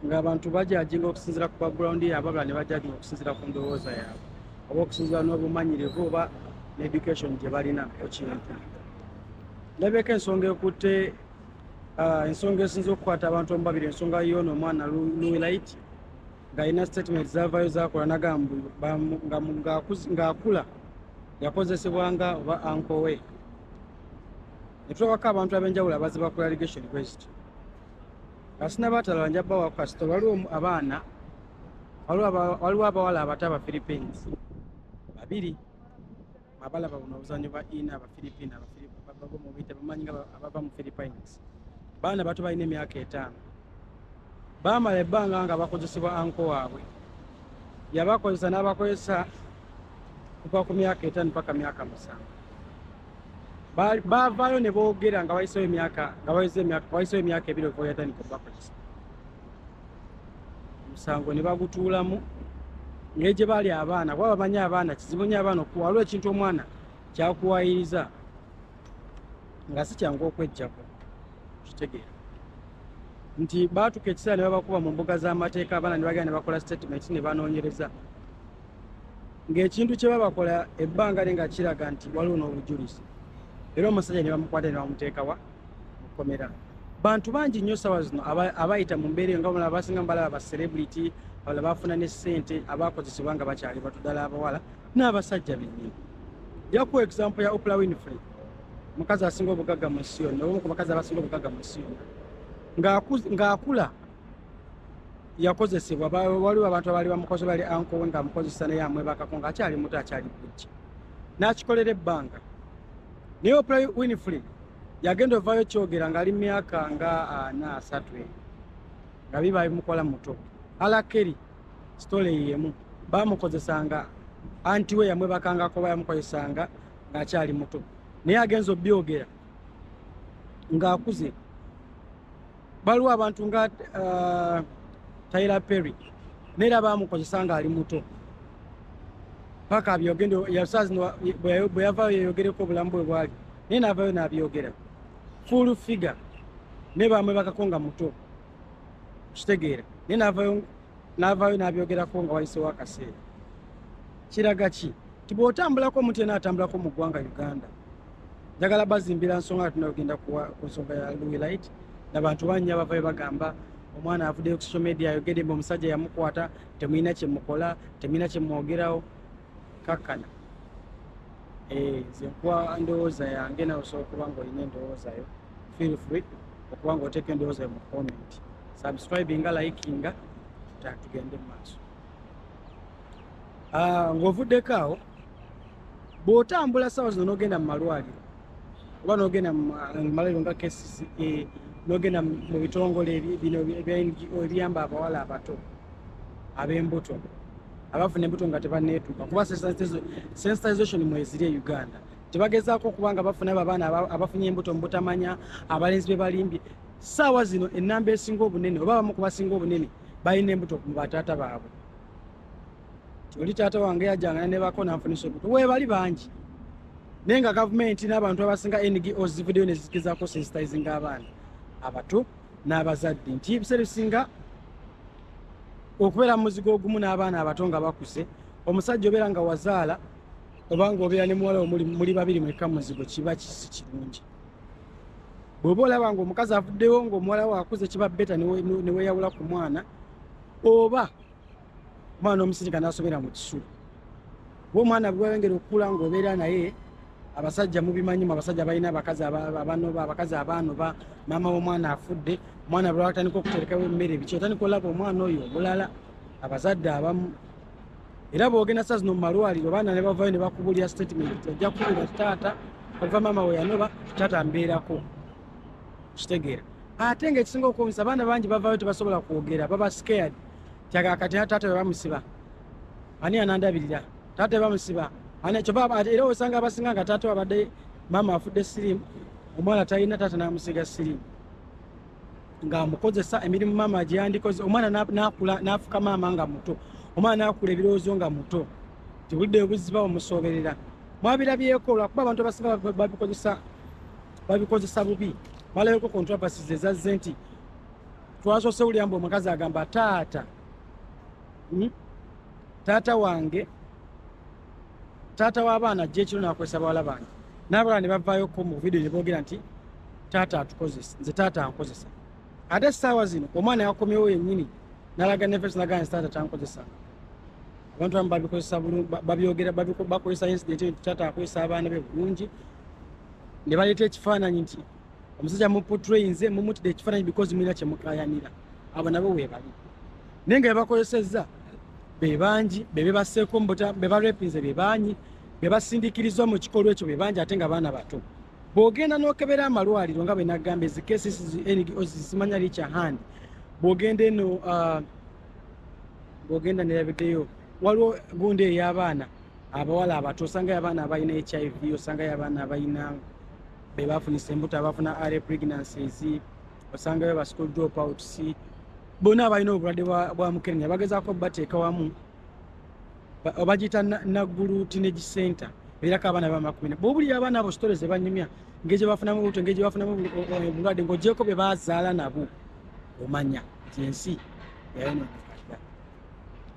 ng'abantu bajajinga okusinzira ku background yaabwe abala ne bajajinga okusinzira ku ndowooza yaabwe oba okusinzira n'obumanyirivu oba needucation gye balina ku kintu ndabeeko ensonga ekutte ah, ensonga esinza okukwata abantu omu babiri ensonga yoona omwana luwilait ng'alina statement zavayo zakola nagamba ng'akula yakozesebwanga oba ankowe netulabako abantu ab'enjawulo abaziba ku allegation kwezityo kasina batalala nja bawa kasita waliwo abaana waliwo abawala abato abaphilippines babiri abalaba buno obuzanyo bwa ina abaphilippine abafilipineababamubite bamanyi nga abava mu philippines baana bato balina emyaka etaano baamala ebbanga nga bakozesebwa anko waabwe yabakozesa n'abakozesa kuva ku myaka etaano paka myaka musanvu baavaayo ne boogera nga wayisewo emyaka nga wayisewo emyaka ebiri okuva yatandika okubakozesa omusango ne bagutuulamu naye gye baali abaana kuba bamanyi abaana kizibu nyo abaana okuwa waliwo ekintu omwana kyakuwayiriza nga si kyangu okwejjako kitegeera nti baatuka ekiseera ne babakuba mu mbuga z'amateeka abaana ne bagenda ne bakola sitatimenti ne banoonyereza ng'ekintu kye babakola ebbanga lye nga kiraga nti waliwo n'obujulizi era omusajja ne bamukwata ne bamuteekawa mu kkomera bantu bangi nnyo ssaawa zino abayita mu mbeera eyo nga mulaba basinga mubalaba ba celebrity abala bafuna ne ssente abakozesebwa nga bakyali batu ddala abawala n'abasajja bennyini jaku example ya opla winfrey omukazi asinga obugagga mu nsi yonna omu ku bakazi abasinga obugagga mu nsi yonna ng'akula yakozesebwa waliwo abantu abaali bamukoze bali ankowe nga amukozesa naye amwebakako nga akyali muto akyali bujja n'akikolera ebbanga naye opla winfrey yagenda ovayo kyogera ngaali myaka nga ana ah, asatu eyo nga biba bimukola muto alakeri sitole yemu bamukozesanga anti we yamwebakangako ba yamukozesanga ng'akyali muto naye agenza obyogera ng'akuze baliwo abantu nga uh, tyler perry neera bamukozesa nga ali muto paka abyogende yasazino bwe yavayo yeyogereko obulamu bwe bwali naye naavayo nabyogera full figure naye bamwe bakako nga muto kitegeera naye naavayo naavayo nabyogerako nga wayisewo akaseera kiraga ki ti bwotambulako omuntu yena atambulako mu ggwanga uganda njagala bazimbira nsonga nga tunagenda ku nsonga ya louis light nabantu bannya abavayo bagamba omwana avuddeyo ku social media ayogedde mbe omusajja yamukwata temulina kyemukola temulina kyemwogerawo kakkana eh, nze nkuwa ndowooza yange nawe osobola okuba nga olina endowooza yo feel free okuba nga oteeka endowooza yo mu comment subscribinga likinga tugende mu maaso ah, ng'ovuddeko awo bw'otambula saawa zino n'ogenda mu malwaliro oba n'ogenda mu malwaliro nga kcca e, n'ogenda mu bitongole bino ebiyamba abawala abato ab'embuto abafuna embuto nga tebaneetuuka kuba sensitization mweziri e uganda tebagezaako okuba nga bafuna abo abaana abafunye embuto mu butamanya abalenzi be balimbye saawa zino enamba esinga obunene oba abamu ku basinga obunene balina embuto mu bataata baabwe oli taata wange yajangana ne bako nanfunisa olubuto webali bangi naye nga gavumenti n'abantu abasinga ngo zivudeyo nezikizako sensitizinga abaana abato n'abazadde nti ebiseera ebisinga okubeera mu muzigo ogumu n'abaana abato nga bakuze omusajja obeera nga wazaala obanga obeera ne muwala omuli muli babiri mwekka muzigo kiba kisi kirungi bw'oba olaba nga omukazi avuddewo ng'omuwala wakuze kiba beta neweyawula ku mwana oba omwana omusirika nasobera mu kisulu we omwana bwewengera okukula ngaobeera naye abasajja mubimanyimu abasajja balina abakazi abanoba abakazi abanoba maama womwana afudde omwana bwewatandika okuterekawo emmere biki otandika olaba omwana oyo omulala abazadde abamu era bwogenda saa zino mumalwaliro baana ne bavayo ne bakubulira statement ojja kubulira taata ova maama weyanoba taata mbeerako kitegeera ate nga ekisinga okuwunyisa abaana bangi bavayo tebasobola kwogera baba scared kyaga kati taata webamusiba ani anandabirira taata webamusiba era osanga abasinga nga taata wabadde maama afudde sirimu omwana talina taata namusiga sirimu nga amukozesa emirimu maama gyeyandikoze omwana nakula nafuka maama nga muto omwana nakula ebirowoozo nga muto tibudde obuziba omusoberera mwabirabyeko lwakuba abantu abasinga babikozesa babikozesa bubi balayoko controversies ezazze nti twasose ulya mbu omukazi agamba taata hmm? taata wange taata w'abaana ajja ekiro nakozesa bawala bange nabala ne bavaayoko mu vidiyo ne boogera nti taata atukozesa nze taata ankozesa ate essaawa zino omwana yakomyewo yennyini nalaga nefeso nagaa nti taata tankozesa abantu amu babikozesa babyogera bakozesa incident nti taata akozesa abaana be bulungi ne baleeta ekifaananyi nti omusajja muputrayinze mumutide ekifaananyi because mulina kyemukayanira abo nabo webali naye nga bebakozesezza bebangi bebebaseeko mubuta bebarepinze bebangi bebasindikirizwa mu kikolwa ekyo bebangi ate nga baana bato bwogenda nokebera amalwaliro nga bwenagamba ezi cases ngos zimanya richa hand bwogenda eno uh, bwogenda nerabiddeyo waliwo gundi ey'abaana abawala abato osangayo abaana abalina hiv osangayo abaana abalina bebafunisa embuto abafuna are pregnancies osangayo ba school drop outs bona abalina obulwadde bwa mukenenya bagezako bateeka wamu obagiyita naggulu teenage center erako abaana bamakumina bobulira abaana abo sitore zebanyumya ngeri gyebafunamu obuto ngeri gyebafunamu obulwadde ngaogyeko bye bazaala nabo omanya nti ensi yayononeka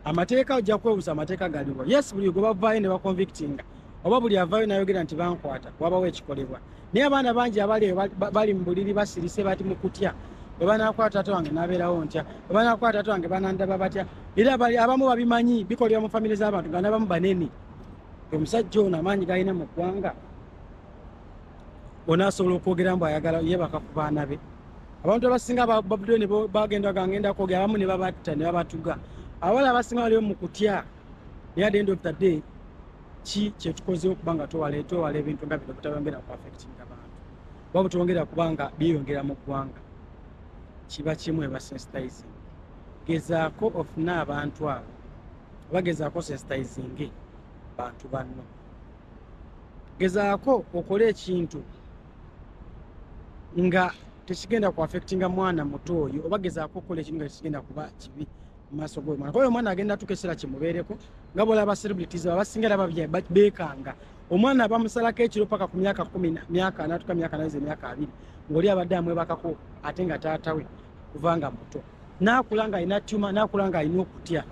amateeka ojja kwebuza amateeka galiwo yes buli gwe bavaayo ne baconvictinga oba buli avaayo nayogera nti bankwata wabawo ekikolebwa naye abaana bangi abali eyo bali mu buliri basirise bati mu kutya bwe banakwata taata wange nabeerawo ntya bwe banakwata taata wange banandaba batya era bali abamu babimanyi bikolebwa mu famire z'abantu nga nabamu banene omusajja ono amaanyi galina mu ggwanga ona asobola okwogera mbu ayagala yebaka ku baana be abantu abasinga babudde ne bagenda gangenda kwogera abamu ne babatta ne babatuga abawala abasinga baliwo mu kutya naye at the end of the day ki kyetukozewo kuba nga twewala twewala ebintu nga bino butabongera ku affectinga abantu oba butwongera kuba nga byeyongera mu ggwanga kiba kimu ebasensitizing gezaako ofune abantu abo oba gezaako sensitizinge bantu banno gezaako okole ekintu nga tekigenda ku affectinga mwana muto oyo oba gezaako okukola ekintu nga tekigenda kuba kibi mumaaso gomwana kuba omwana agenda tuka ekiseera kimubeereko nga bola ba celebrities abasinga era beekanga omwana abamusalako ekiro paka ku myaka kumi myaka natuka myaka nayiza emyaka abiri ngaoli abadde amwebakako ate nga taatawe kuvanga muto nakula nga alina tuma nakula nga alina okutya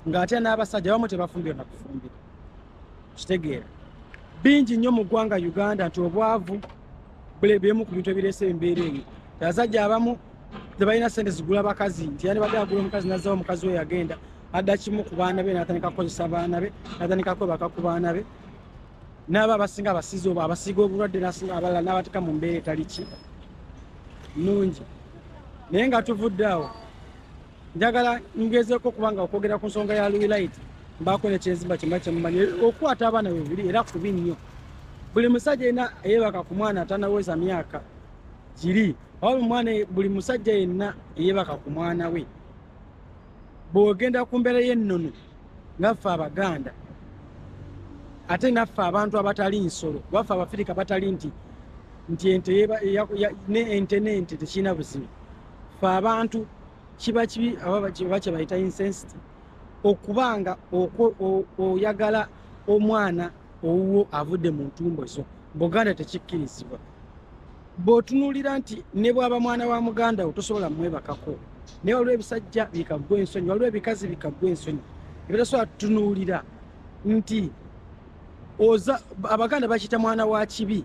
ngaate n'abasajja bamu tebafumbire nakufumbira kitegeera bingi nnyo mu ggwanga uganda nti obwavu bulebyemu ku bintu ebireese embeera eyo abasajja abamu tebalina sente zigula bakazi nti yandibadde agula omukazi nazawo omukazi we yagenda adda kimu ku baana be natandika kukozesa baana be natandika kwebaka ku baana be naaba abasinga abasiza oba abasiiga obulwadde nasinga abalala nabateeka mu mbeera etaliki nungi naye nga tuvudde awo njagala ngezeeko kubanga okwogera ku nsonga ya luilaiti mbaako nekyenzimba kyemba kyemumanyi okukwata abaana bebuli era kubi nnyo buli musajja yenna eyebaka ku mwana atanaweza myaka kiri oba mwana buli musajja yenna eyebaka ku mwana we bwogenda ku mbeera y'ennono ngaffe abaganda ate naffe abantu abatali nsolo baffe abafirika batali nti nti ente nente tekirina buzibu fe abantu kiba kibi oba kyebayita insensity okuba nga oyagala omwana owuwo avudde mu ntumbo zo buganda tekikkirizibwa bwotunulira nti ne bwaba mwana wa muganda wo tosobola mwebakako naye waliwo ebisajja bikaggwa ensonyi waliwo ebikazi bikaggwa ensonyi ebitasobola tutunuulira nti oza abaganda bakiyita mwana wa kibi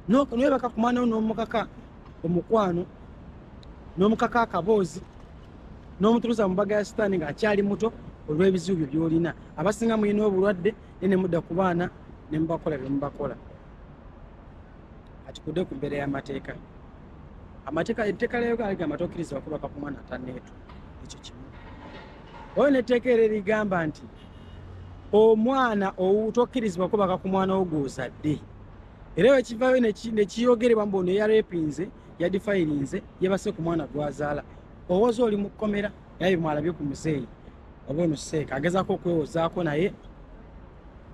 nokunwebaka kumwana wo nomukaka omukwano nomukaka akaboozi nomutuluza mubaga ya sitaani nga akyali muto olwebizibu byo byolina abasinga mulina obulwadde ne nemudda ku baana nemubakola byemubakola kati kude ku mbeera y'amateeka amateeka etteeka lya uganda ligamba tokirizibwa kubaka ku mwana ataneetu ekyo kimu oyo netteeka era erigamba nti omwana owu tokirizibwa kubaka ku mwana wo gwozadde era wekivayo nekiyogerebwa mbu ono eyarepinze yadifayirinze yebase ku mwana gwazaala owoza oli mu kkomera naye bimwalabye ku muzeeyi oba ono seeka agezaako okwewozaako naye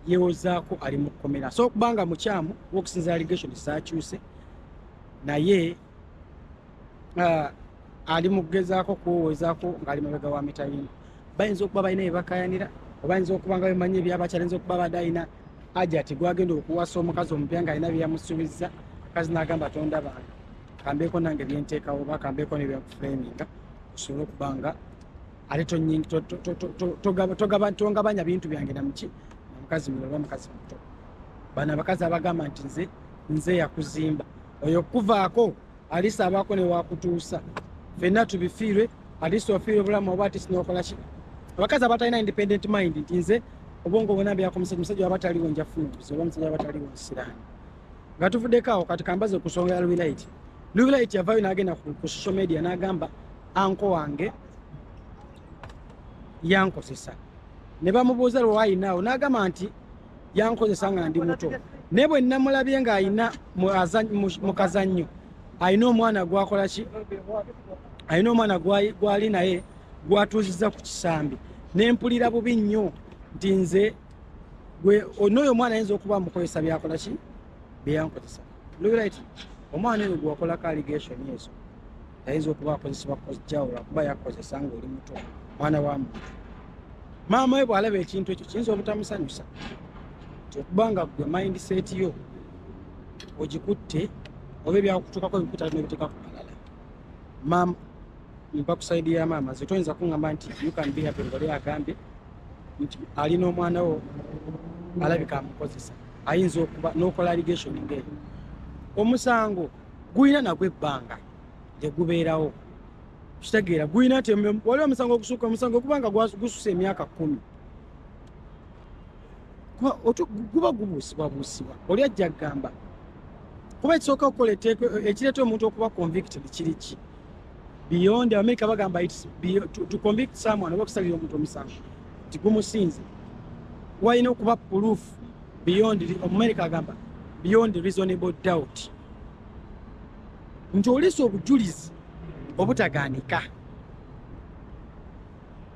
yewozaako ali mu kkomera so okubanga mukyamu wokusinza allegation zakyuse naye ah, ali mu kugezaako kuwowezaako ng'ali mabega wa mitayini bayinza okuba balina byebakayanira obayinza okuba nga bemanyi ebyabakyayinza okuba bade alina ajati gwagenda okuwasa omukazi omupya nga alina byeyamusubiza kazi nagamba tonda bantu kambeeko nange byenteekawo oba kambeeko nebyakufreminga osobole okuba nga ate tongabanya bintu byange namuki namukazi mulala oba mukazi muto bano abakazi abagamba nti nze nze yakuzimba oyo okukuvaako alisi abaako newakutuusa fenna tubifiirwe alisi ofiire obulamu oba atisi nokolaki abakazi abatalina independent mind nti nze obwongo bona byakomusajja omusajja waba taliwo njafuna obuzi oba omusajja waba taliwo nsiraani nga tuvuddeko awo kati kambaze okusongera lubilaiti lubilaiti yavayo nagenda ku social media nagamba anko wange yankozesa ne bamubuuza lwewayinaawo nagamba nti yankozesa nga ndi muto naye bwe nnamulabye ng'alina mu kazannyo alina omwana gwakola ki alina omwana gwali naye gwatuuziza ku kisambi nempulira bubi nnyo nti nze n'oyo omwana ayinza okuba mukozesa byakola ki byeyankozesa lrit omwana eyo gwakolako allegation ezo ayinza okuba akozesebwa kojjawula kuba yakozesa ngaoli muto mwana wa muntu maama we bwalaba ekintu ekyo kiyinza obutamusanyusa nti okuba nga gwe mindset yo ogikutte oba ebyakutuukako ebikuta nobiteeka ku malala maama mpa ku saidi ya maama ze toyinza kuŋamba nti ukanbihapiole agambye nti ali n'omwana wo alabika amukozesa ayinza okuba n'okola ligation ngaeyo omusango gulina nagwo ebbanga lyegubeerawo kitegeera gulina nti waliwo omusango ogusuka omusango guba nga gususa emyaka kumi guba gubuusibwabuusibwa oli ajja kugamba kuba ekisooka okukola eteeko ekireeta omuntu okuba convicted kiri ki beyond america bagamba to convict someone oba okusalira omuntu omusango nti gumusinze walina okuba puluufu beyond omumerika agamba beyond reasonable doubt nti olesa obujulizi obutaganika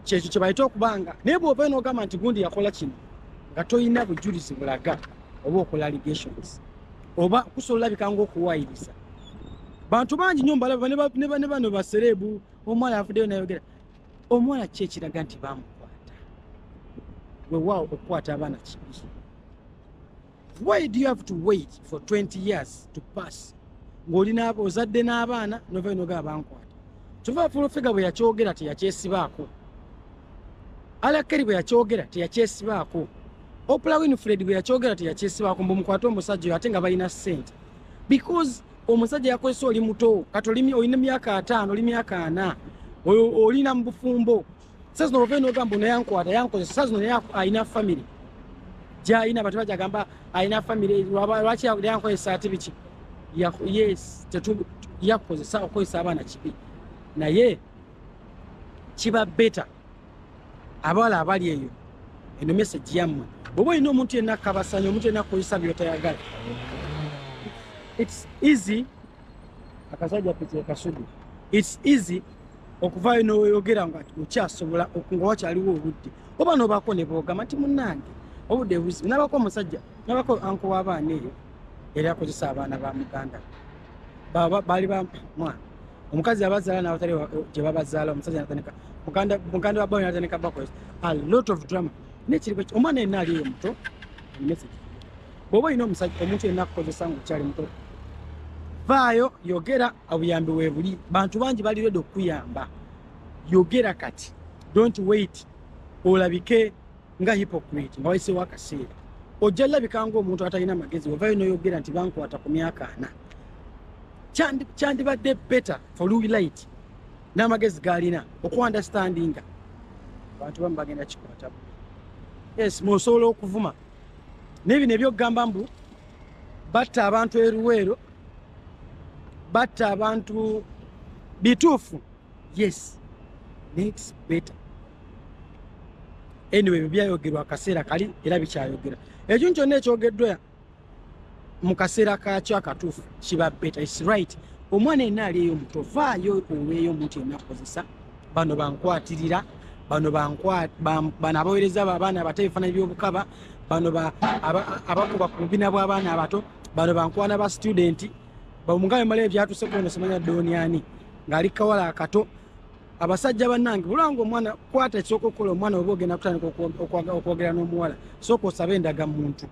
kyekyo kyebayita okubanga naye bwovayo nogamba nti gundi yakola kino nga tolina bujulizi bulaga oba okola allegations oba kusobola olabika ngaokuwayiriza bantu bangi nyo mbalaba ne bano basereebu omwana avuddeyo nayogera omuwala ki ekiraga nti bamukwata wewaawo okukwata abaana kibi why do you have to wait for 20 years to pass ng'oli ozadde n'abaana novayo nogaa bankwata kyova fulofega bwe yakyogera teyakyesibaako alakeri bwe yakyogera teyakyesibaako opula winfred bwe yakyogera teyakyesibaako mbumukwate omusajja oyo ate nga balina ssente because omusajja yakozesa oli muto kati olina myaka ataano oli myaka ana olina mu bufumbo sa zino ova nogamba ono yankwata yankozesa sa zino naye alina famiry gyalina abantu bajagamba alina famiry lwaki yankozesa ati biki yes yakukozesa okukozesa abaana kibi naye kiba beta abawala abali eyo eno message yammwe bwoba olina omuntu yenna akabasanya omuntu yenna akukozesa byotayagala its easy akasajja pekekasudu its easy okuvaayo noyogera nga okyasobola nga wakyaliwo obudde oba nobako nebogamba nti munange obudde buzibu nabako omusajja nabako anko wabaana eyo yali akozesa abaana ba muganda baali bamwana omukazi yabazaala nabatali gyebabazaala omusajja natandika muganda wa bawe natandika bakoze a lot of drama naye kiri omwana yenna aliyo muto message bwoba olina omusajja omuntu yenna akukozesa nga okyali muto vaayo yogera obuyambi webuli bantu bangi bali redi okukuyamba yogera kati don't wait olabike nga hypocrite nga wayiseewo akaseera ojja labika ngaomuntu atalina magezi ovayo noyogera nti bankwata ku myaka ana kyandibadde better for lulight n'amagezi gaalina okuandastandinga abantu bamu bagenda kikwata yes musobola okuvuma naye bino ebyokugamba mbu batta abantu eruweero batta abantu bituufu yes next better anyway ebyo byayogerwa akaseera kali era bikyayogera ekyo kyonna ekyogeddwa mu kaseera kakyo akatuufu kiba beta is right omwana yenna ali eyo omuto vaayo oweeyo omuntu yenna akozesa bano bankwatirira bano bano abawereza abaana abato ebifaananyi by'obukaba bano abakuba ku bubina bw'abaana abato bano bankwana ba situdenti bamugambe mala ebyatuuse kuno simanya dooni ani ng'ali kawala akato abasajja banange bulanga omwana kwata ekisooka okukola omwana oba ogenda kutandika okwogera n'omuwala sooka osaba endaga muntu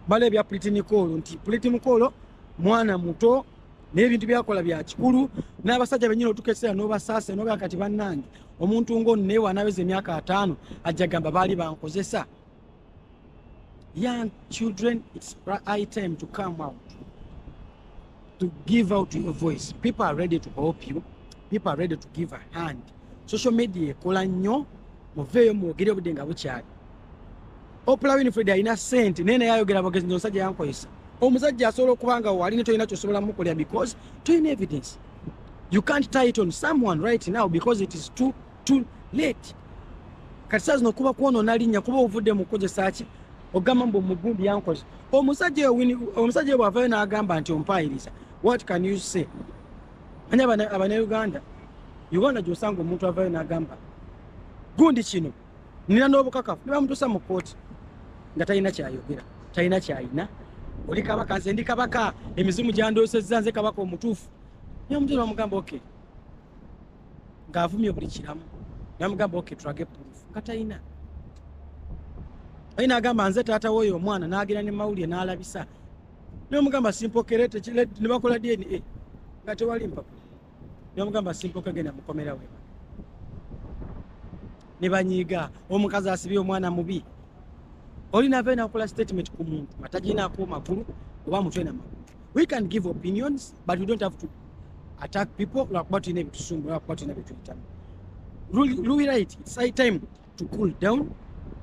bala ebya pulitinicoolo nti pulitinicoolo mwana muto naye ebintu byakola bya kikulu n'abasajja benyini otuka ekiseera n'obasaasa nogaa kati banange omuntu ngaono naye wanaweza emyaka ataano ajja gamba baali bankozesa young children it's high time to come out to give out your voice people are ready to help you people are ready to give a hand social media ekola nnyo muveeyo mwogere obudde nga bukyali opula winfred alina sente naye naye ayogera bogezi nti omusajja yankozesa omusajja asobola okuba nga wali ne tolina kyosobola mukolera because tolina evidence you can't tie it on someone right now because it is too too late kati saa zino kuba kwonoona linnya kuba ovudde mu kukozesa ki ogamba mbu mugundi yankoze omusajja omusajja oyo bwavayo n'agamba nti ompaayiriza what can you say anya abanauganda uganda gyosanga omuntu avayo n'agamba gundi kino nina n'obukakafu ne bamutuusa mu kkooti nga talina kyayogera talina kyayina oli kabaka nze ndi kabaka emizimu gyandoosezza nze kabaka omutuufu naye omutuusa bamugamba okay ng'avumye buli kiramu namugamba ok tulage proof nga talina ayi nagamba nze taata woyo omwana nagenda ne mawulire nalabisa nemugamba simpokere nebakola dna nga tewali mpapula nemugamba simpoke genda mukomera we nebanyiiga omukazi asibye omwana mubi oli nava enakola statement ku muntu nga taginaako magulu oba mutwe na magulu we can give opinions but we don't have to attack people lwakuba tulina ebitusumbu lwakuba tulina byetuyitamu luwirait its high time to cool down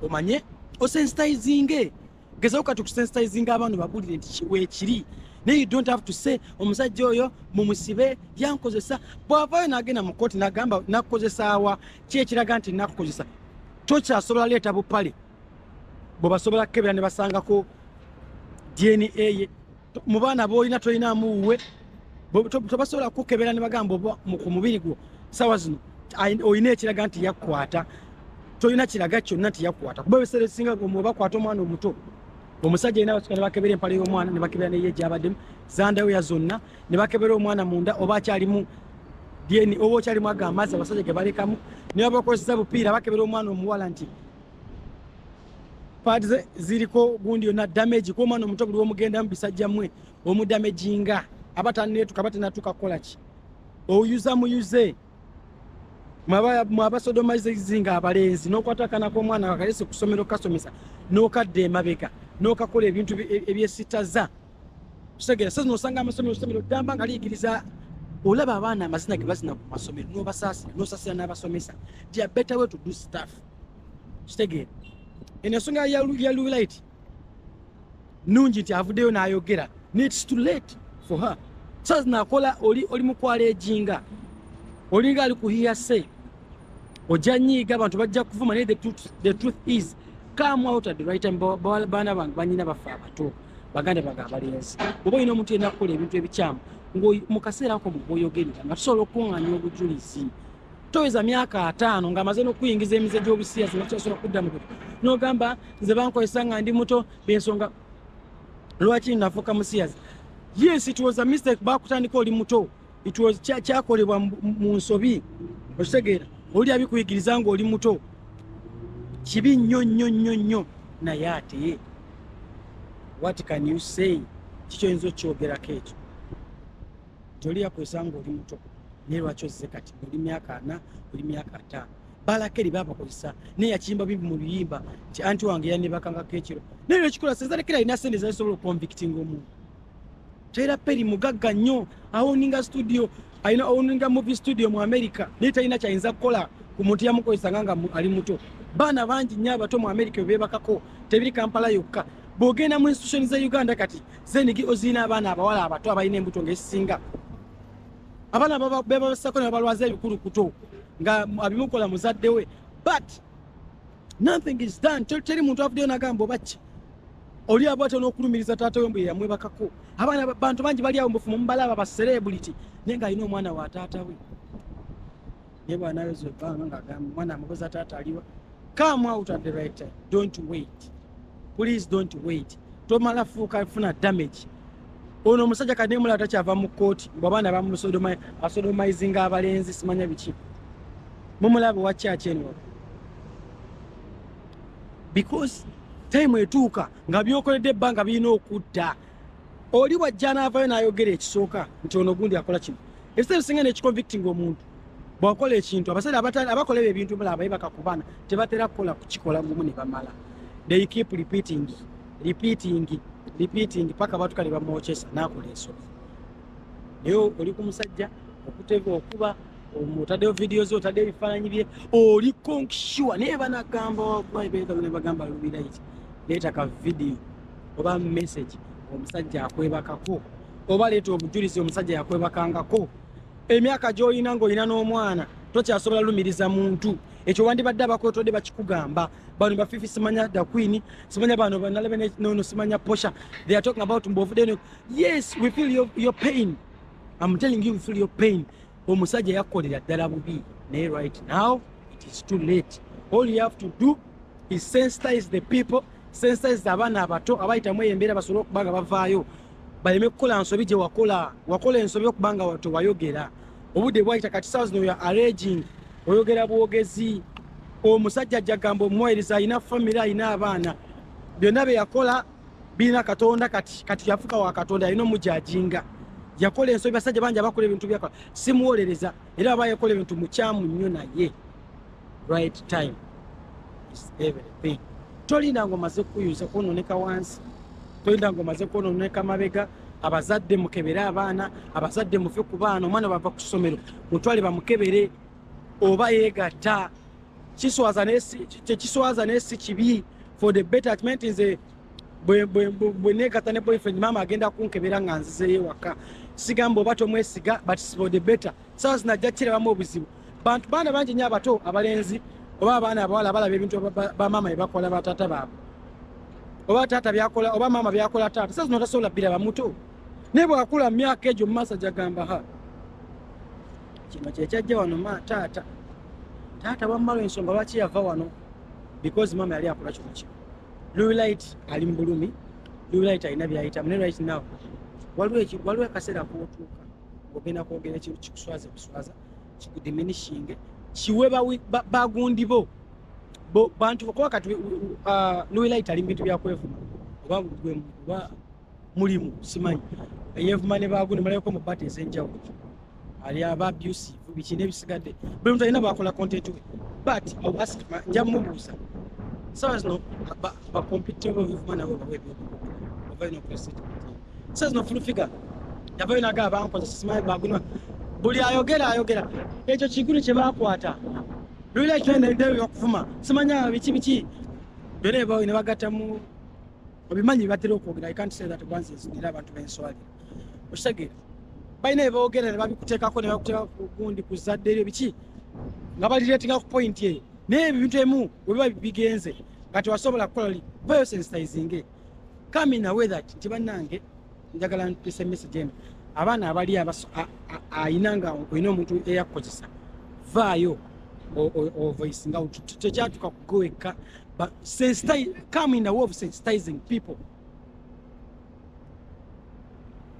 omanye osensitizinge gezako kati okusensitizinga abantu babulire nti kiwekiri naye you don't have to say omusajja oyo mumusibe yankozesa bwavayo nagenda mu kooti nagamba nakukozesaawa kyekiraga nti nakukozesa tokyasobola leeta bupale bwebasobola kukebera ne basangako dna ye mu baana boolina tolinaamu wuwe tebasobola kukukebera ne bagamba oba ku mubiri gwo sawa zino olina ekiraga nti yakukwata tolina kiraga kyonna nti yakukwata kuba ebiseera ebisinga obakwata omwana omuto omusajja yina batuka nebakebera empala y'omwana nebakebera neye gyabaddemu zandayoya zonna nebakebera omwana munda oba akyalimu dna oba okyalimu ago amazzi abasajja gebalekamu nebabakozesa bupiira bakebera omwana omuwala nti paati ze ziriko gundi yonna damage kuba omwana omuto buli womugenda mu bisajja mwe omudamaginga aba taneetuka aba tenatuuka kukola ki oyuza muyuze mwabasodomaizi nga abalenzi nokwata akana komwana kakalese kusomero kasomesa nokadda emabega nokakola ebintu e, ebyesitaza kitegera sasa nosanga amasomero somero damba nga liyigiriza olaba abaana amazina ge bazina ku masomero nobasaasira nosasira n'abasomesa dia better way to do stuff kitegeera eno ensonga ya lulight nungi nti avuddeyo n'ayogera nits to late for her saz nakola oli oli mukwala ejinga olinga ali kuhiya se ojja nyiiga abantu bajja kuvuma naye the truth is come out at the right time baana bange banyina bafe abato baganda bange abalenzi oba olina omuntu yena kukola ebintu ebikyamu mu kaseera ako mugwoyogerera nga tusobola okukuŋŋanya obujulizi toyeza myaka ataano ng'amaze n'okuyingiza emize gy'obusiyazi nokyasobola kudda mu buto n'ogamba nze bankozesa nga ndi muto bensonga lwaki nafuuka musiyazi yes it was a mistake bakutandika oli muto it was kyakolebwa mu nsobi okitegeera oli abikuyigiriza ng'oli muto kibi nnyo nnyo nnyo nnyo naye ate what can you say kikyo yinza okukyogerako ekyo toli yakozesa nga oli muto naye lwaki ozze kati oli myaka ana oli myaka ataano balakeri babakozesa naye yakiyimba bimbi mu biyimba nti anti wange yanebakangako ekiro naye lwekikola sezalekeri alina sente zazisobola okonvictinga omuntu tera peri mugagga nnyo awoninga studio alina owoninga movie studio mu america naye talina kyayinza kukola ku muntu yamukozesanga nga ali muto baana bangi nnyo abato mu america bebebakako tebiri kampala yokka bwogenda mu institution za uganda kati zenigi ozirina abaana abawala abato abalina embuto ngaesinga abaana bebabasako nebabalwaza ebikulukuto nga abimukola muzadde we but nothing is done teri muntu avuddeyo nagamba obaki oli abwatya nokulumiriza taata we mbu yeyamwebakako abaana bantu bangi bali awo mbufumu mubalaaba ba celebrity naye nga alina omwana wa taata we naye bwanayoza ebbanga ngaagamba mwana amubuza taata aliwa come out at the right time don't wait please don't wait tomala fuuka funa damage ono omusajja kati nemulaba takyava mu kkooti mbu abaana bamusodomizinga abalenzi simanya biki mumulaba owa kyaki eno because time etuuka nga byokoledde ebbanga birina okudda oli wajja anaavayo n'ayogera ekisooka nti ono gundi akola kino ebiseera bisinga nekiconvictinga omuntu bwakola ekintu abasaira abakola ebyo ebintu mulaba baye bakakubana tebatera kukola kukikola gumu ne bamala they keep repeating repeating repeating paka batuka ne bamwokyesa n'akola ensobi naye oli ku musajja okutega okuba otaddeyo vidiyo ze otaddeyo ebifaananyi bye oli konksure naye banagamba wagwa ebegalo ne bagamba lubiraiti leeta ka vidiyo oba message omusajja akwebakako oba leeta obujulizi omusajja yakwebakangako emyaka gyolina ngaolina n'omwana tokyasobola lumiriza muntu ekyo wandibadde abakwetodde bakikugamba bano bafifi simanya the queen simanya bano banalebe nono simanya posha they are talking about mbovudeno yes we feel your, your pain i'm telling you we feel your pain omusajja yakukolera ddala bubi naye right now it is too late all you have to do is sensitize the people sensitize abaana abato abayitamu eyo embeera basobole okuba nga bavaayo baleme kukola nsobi gye wakola wakola ensobi okuba nga wato wayogera obudde bwayita kati sawa zino ya arraging oyogera bwogezi omusajja ajja gamba omuwayiriza alina famiry alina abaana byonna bye yakola birina katonda kati kati yafuka wa katonda yalina omujajinga yakola ensobi basajja bangi abakola ebintu byakola simuwolereza era aba yakola ebintu mukyamu nnyo naye right time is everything tolinda nga omaze kukuyuza kwononeka wansi tolinda nga omaze kwononeka mabega abazadde mukebere abaana abazadde muve ku baana omwana bava ku ssomero mutwale bamukebere oba yegatta kiswaza tekiswaza naye si kibi for the betterment nze bwenegata ne boyfriend maama agenda kunkebera nga nzizeyo ewaka sigamba oba tomwesiga but for the better sawa zinajja kirabamu obuzibu bantu baana bangi nyo abato abalenzi oba abaana abawala balaba ebintu bamaama byebakola bataata baabwe oba taata byakola oba maama byakola taata sawa zino tasobola biraba muto naye bwakula mu myaka egyo mumaaso jagamba ha kino kyekyajja wano ma taata taata wamma lwensonga lwaki yava wano because maama yali akola kino kino lulight ali mu bulumi lulight alina byayitamu ne right now waliwo akaseera kootuuka ogenda kwogera ekintu kikuswaza buswaza kikudiminishinge kiwe bagundi bo bantu kuba kati uh, lulight ali mu bintu byakwevuma oba gwe mulimu simanyi eyevuma ne baagu ne mulayoko mu bata ez'enjawulo ali aba abusive biki n'ebisigadde buli muntu alina bwakola content we but ask nja mubuuza sawa zino bakompitebo evuma nabo bawa ebyokubaina okulesita sawa zino fulufiga yavayo naga abankoza simanyi bagunwa buli ayogera ayogera ekyo kigulu kye bakwata lwila ekyendedde okuvuma simanya biki biki byona ebawo ne bagattamu obimanyi batera okwogera i can't say that kwanza ezinira abantu benswali okitegeera balina beboogera ne babikuteekako ne bakuteeka ku gundi ku zadde eryo biki nga balireetinga ku pointi eyo naye ebintu emu webiba bigenze nga tewasobola kukola li bayo sensitizinge kami nawe that nti bannange njagala ntuse message eno abaana abali ayina nga olina omuntu eyakukozesa vaayo ovoisinga tekyatuka kugoekka but sensitize, come in the way of sensitizing people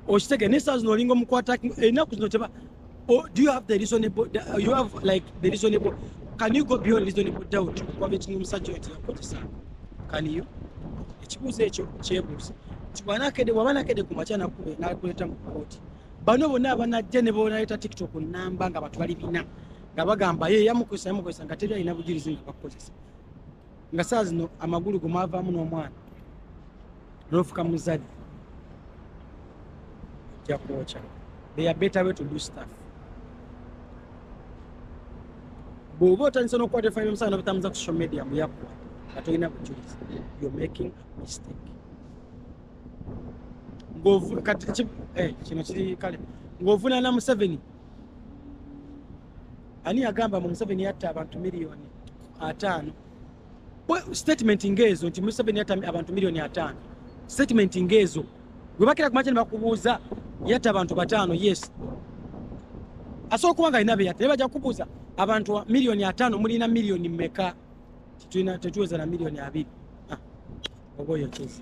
okitege naye saa zino olinga omukwata enaku zino teba oh, do you have the reasonable uh, you have like the reasonable can you go beyond reasonable doubt okukwaba ekinga omusajja oyo teyakozesa can you ekibuuzo ekyo kyebuuza nti bwanakede bwaba nakede ku makya nakube nakuleta mu kooti bano bonna abanajja ne bonaleeta tiktok namba nga batu bali bina nga bagamba ye yamukozesa yamukozesa nga teri alina bujulizi nga bakukozesa nga saa zino amagulu go mwavaamu n'omwana nofuka muzadde ojja kwokya they are better way to do stuff bw'oba otandise n'okukwata efayiro omusaana nobutambuza ku social media muyakuwa nga tolina bujulizi you're making a mistake ng'ovu kati eh, kino kiri kale ng'ovunaana museveni ani yagamba mu museveni yatta abantu miliyoni ataano statement ngaezo nti museveni yatta abantu miliyoni ataano statement ngaezo webakira kumakya nebakubuuza yatta abantu bataano yes asobola okuba nga alina beyatta naye baja kubuuza abantu miliyoni ataano mulina miliyoni meka tetuweza na miliyoni abiri ah, oba oyo kizi